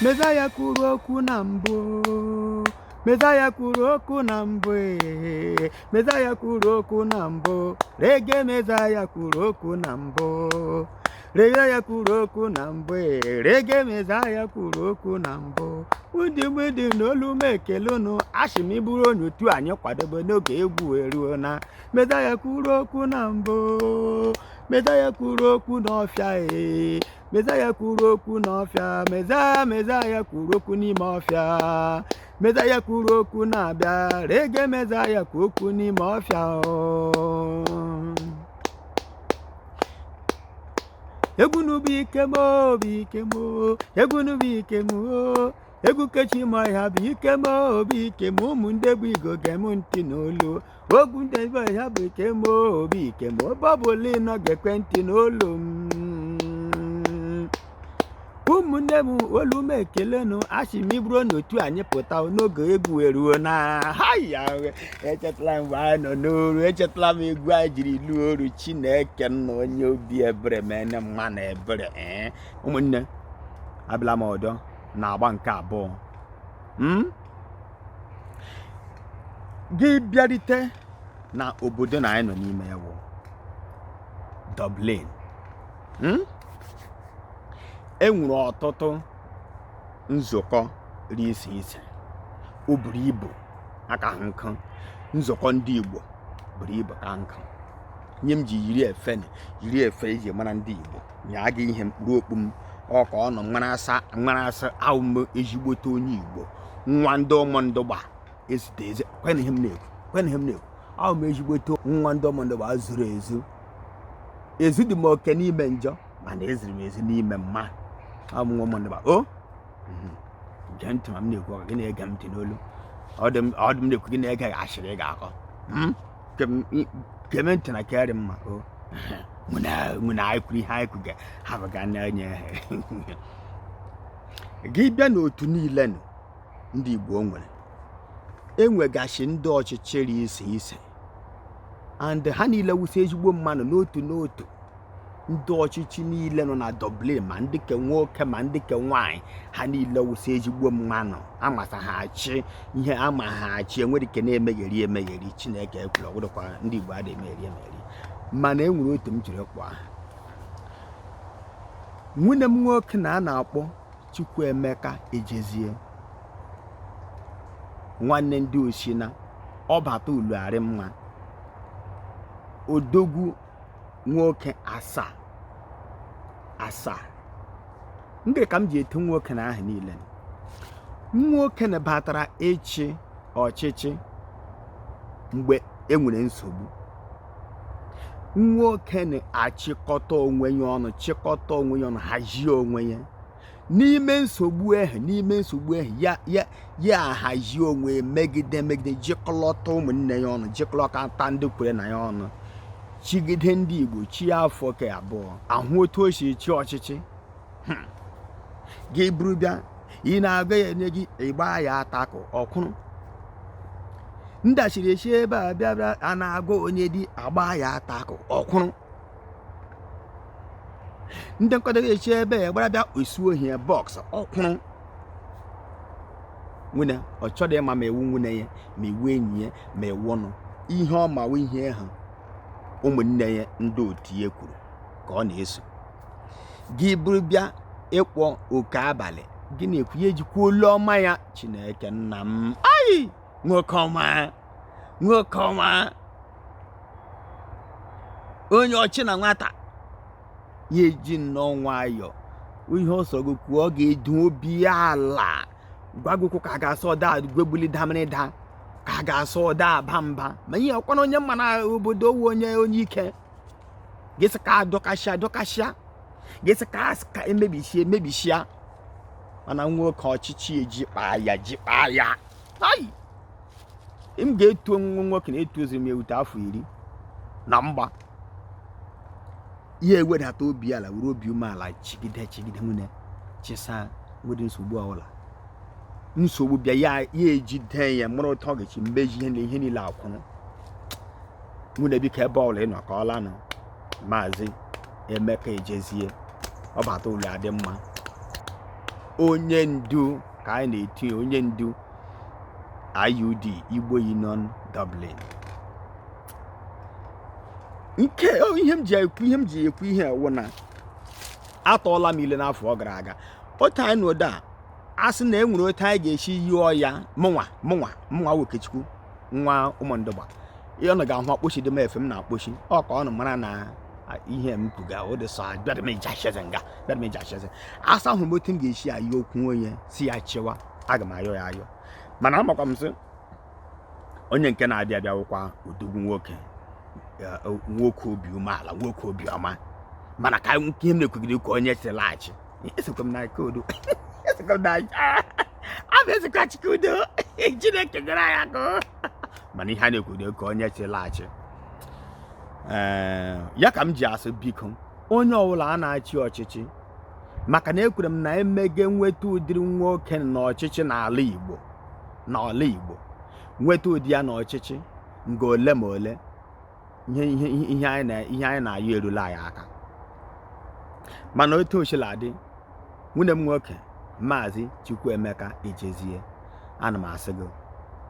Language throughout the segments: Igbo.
Mezaya kwuru okwu na mbụ Mezaya kwuru okwu na mbụ ee Mezaya kwuru okwu na mbụ Rege Mezaya kwuru okwu na mbụ Rege ya kwuru okwu na mbụ ee Rege Mezaya kwuru okwu na mbụ Ndị m ndị m olu m ekele unu asị m ị bụrụ onye otu anyị kwadobe n'oge egwu eruona Mezaya kwuru okwu na mbụ Mezaya kwuru okwu n'ọfịa ee Mezaya kwuru okwu n'ọfịa Mezaya Mezaya kwuru okwu n'ime ọfịa Mezaya kwuru okwu na-abịa Rege Mezaya kwuru okwu n'ime ọfịa egwu n'ubi ike m o bụ ike m egwu n'ubi ike m egwu kechi ma ọhịa bụ ike m o bụ ike m ụmụ ndị bụ Igbo gee m ntị n'olu okwu ndebe ya bụ ike m o bụ ike m ebe ọ bụla ị nọ gekwe ntị n'olu m ụmụnne m olu m ekelenụ asị m ị bụrụ n'otu anyị pụta n'oge egwu eruona haya echetala m mgbe anyị nọ n'oru echetala m egwu anyị jiri lụọ oru chineke nna onye obi ebere mene mma na ebere ee ụmụnne abịala m ọdọ na agba nke abụọ m gị bịarite na obodo na anyị nọ n'ime ya wụ Dublin hmm? e nwere ọtụtụ nzukọ dị iche iche o buru ibu akahụ nke nzukọ ndị Igbo buru ibu ka nkụ nye m ji yiri efe yiri efe e ji mara ndị Igbo nye aga ihe m kpuru okpu m ọka ọnụ mara asa awụ m ezigbote onye Igbo nwa ndị Ụmụndụgba ezute eze kwena ihe m na-ekwu kwena ihe m na-ekwu awụ m ezigbote nwa ndị Ụmụndụgba zuru ezu ezudị m oke n'ime njọ mana eziri m ezi n'ime mma awụ m nwa Ụmụndụgba o mhm. gee ntị ma m na-ekwu ọ kwa gị na-ege m ntị n'olu ọ dị m na-ekwu gị na-ege asịrị ị ga-akọ hmm? geme ntị na ke rị mma o mụ na anyị kwuru ihe anyị kwuga ha bụga n'anya gị bịa n'otu niile nụ ndị Igbo nwere enwegasị ndị ọchịchị dị iche iche and ha niile wụsị ezigbo mmanụ n'otu n'otu ndị ọchịchị niile nọ na Dublin ma ndị ke nwoke ma ndị ke nwanyị ha niile wụsị ezigbo mmanụ amasa ha achị ihe ama ha achị enwedị ke na-emegheri emegheri Chineke ekwere ọ wụdụkwa ndị Igbo adịghị emegheri emegheri mana e nwere otu m jiri kwa nwunne m nwoke na a na-akpọ Chukwuemeka Ejezie nwanne ndị Osina ọbata ụlọ arị mma odogwu nwoke asaa asaa ndị ka m ji etu nwoke na aha niile nwoke nụ batara ịchị ọchịchị mgbe enwere nsogbu nwoke nụ achịkọta onwe ya ọnụ chịkọta onwe ya ọnụ hazie onwe ya n'ime nsogbu ahụ n'ime nsogbu ahụ ya ya ya ahazie onwe ya megide megide jikọlọta ụmụnne ya ọnụ jikọlọta ndị kwere na ya ọnụ chịgide ndị Igbo chịa afọ ke abụọ ahụ otu o si chịa ọchịchị hmm. gị buru bịa ị na-agwa ya enye gị ị gbaa ya attack ọ kwụrụ ndachiri echi ebe a bịa bịa a na-agwa onye di agba ya attack ọ kwụrụ ndị nkwado echi ebe a gbara bịa osuo ohi box ọ kwụrụ nwunne ọ chọrọ ịma ma ị wụ nwunne ya ma ị wụ enyi ya ma ị wụ onye ihe ọ ma wụ ihe ha ụmụnne ya ndị otu ya kwuru ka ọ na-eso gị buru bịa ịkpọ oke abalị gị na-ekwu ya ejikwa olu ọma ya chineke nna m ayi nwoke ọma nwoke ọma onye ọchị na nwata ya eji nnọọ nwayọọ ihe ọ sọrọ gị kwuo ọ ga-edu obi ya ala gwa gị okwu ka a ga-asị ọ da gwegbuli damirida ka a ga-asị ọ da aba mba ma ihe ọkwana onye mma na obodo ọ wụ onye onye ike ga-asị ka adọkasịa adọkasịa ga-asị ka asị ka emebisie emebisia mana nwoke ọchịchị eji kpaa ya ji kpaa ya ayi m ga-etu onwe nwoke na etu oziri m erute afọ iri na mgba ya ewedata obi ala were obi umeala chịgide chịgide nwunne chịsaa nwere nsogbu ọbụla nsogbu bịa ya ejide ya mụrụ ụtọ ọ ga-achị mgbe ji ihe niile akwụrụ nwunne biko ebe ọbụla ị nọ ka ọla nọ maazị emeka ejezie ọbata ụlọ adị mma onye ndu ka anyị na-etu ya onye ndu IUD Igbo Union Dublin nke ihe m ji ekwu ihe m ji ekwu ihe a wụ na atọọla m ile n'afọ ọ gara aga otu anyị na ụda a sị na e nwere otu anyị ga-esi yịọ ya mụnwa mụnwa mụnwa Okechukwu nwa Ụmụndụgba ihe ọ ga-ahụ akpochi dị m efe m na-akpochi ọ ka ụnụ mara na ihe m kwuga ụdịsọ bịara m eji acheze nga bịara m eji acheze a sị ahụrụ m otu m ga-esi ayọ okwu onye sị ya chịwa aga m ayọ ya ayọ mana amakwa m sị onye nke na-abịa abịa wụkwa odogwu nwoke nwoke obi umeala nwoke obi ọma mana ka ihe m na-ekwugide ka onye chịla achị esokwa m na nke udo esokwa m na a na-esokwa chike udo Chineke nyere ya aka mana ihe a na-ekwu dị ka onye chịla achị ee ya ka m ji asị biko onye ọbụla a na-achị ọchịchị maka na ekwere m na emege nweta ụdịrị nwoke na ọchịchị n'ala Igbo n'ala Igbo nweta ụdị ya na ọchịchị nga ole ma ole ihe ihe ihe anyị na ihe anyị na-ayọ erula anyị aka mana otu o sila dị nwanne m nwoke maazị Chukwuemeka Ejezie ana m asị gị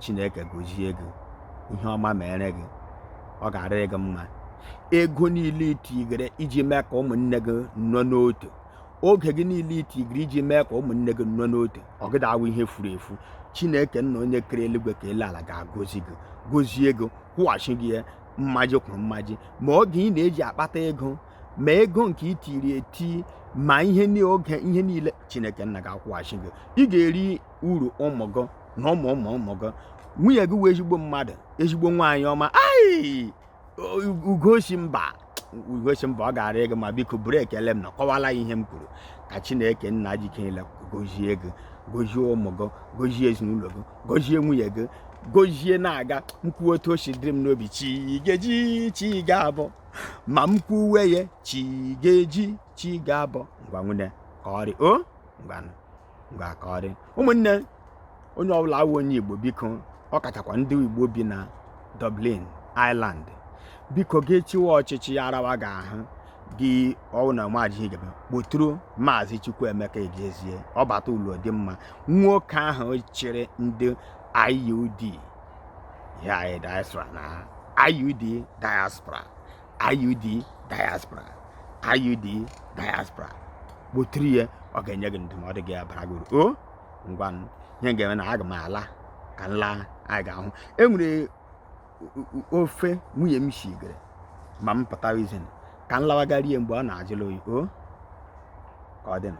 Chineke gozie gị ihe ọma mere gị ọ ga-arịrị gị mma ego niile i tigere iji mee ka ụmụnne gị nọ n'otu oge gị niile i tigere iji mee ka ụmụnne gị nọ n'otu ọ gịda awụ ihe furu efu Chineke nna onye kere eluigwe kee elu ala ga-agọzi gị gozie gị kwụghachi gị ya mmaji kwuru mmaji ma oge ị na-eji akpata ego ma ego nke i tiri eti ma ihe oge ihe niile Chineke nna ga-akwụghachi gị ị ga-eri uru ụmụ gị na ụmụ ụmụ ụmụ gị nwunye gị wụ ezigbo mmadụ ezigbo nwaanyị ọma ai Ugosimba Ugosimba ọ ga-arị gị mma biko buru ekele m na kọwala ihe m kwuru ka Chineke nna ji ike niile gozie gị gozie ụmụ gị gozie ezinụlọ gị gozie nwunye gị gozie na aga m ekwuwe otu o si dịrị m n'obi chi ga-eji chi ga-abọ ma m kwuwe ya chi ga-eji chi ga-abọ ngwa nwanne ka ọ rị o ngwanụ ngwa ka ọ rị ụmụnne onye ọbụla wụ onye Igbo biko ọ kachakwa ndị Igbo bi na Dublin Ireland biko gị chịwa ọchịchị ya arawa gị ahụ gị ọ wụ na ị maghị ihe ị ga-eme kpọtụrụ maazị Chukwuemeka Ejezie ọ bata ụlọ dị mma nwoke ahụ chịrị ndị IUD ya diaspora na IUD diaspora IUD diaspora IUD diaspora kpọtụrụ ya ọ ga-enye gị ndụmọdụ ga-abara gị uru o ngwa ihe m ga-eme na aga m ala ka m la anyị ga-ahụ e nwere ofe nwunye m shigere ma m pụtara ezi ka m lawa gaa rie mgbe ọ na-ajụla oyi o ka ọ dịnụ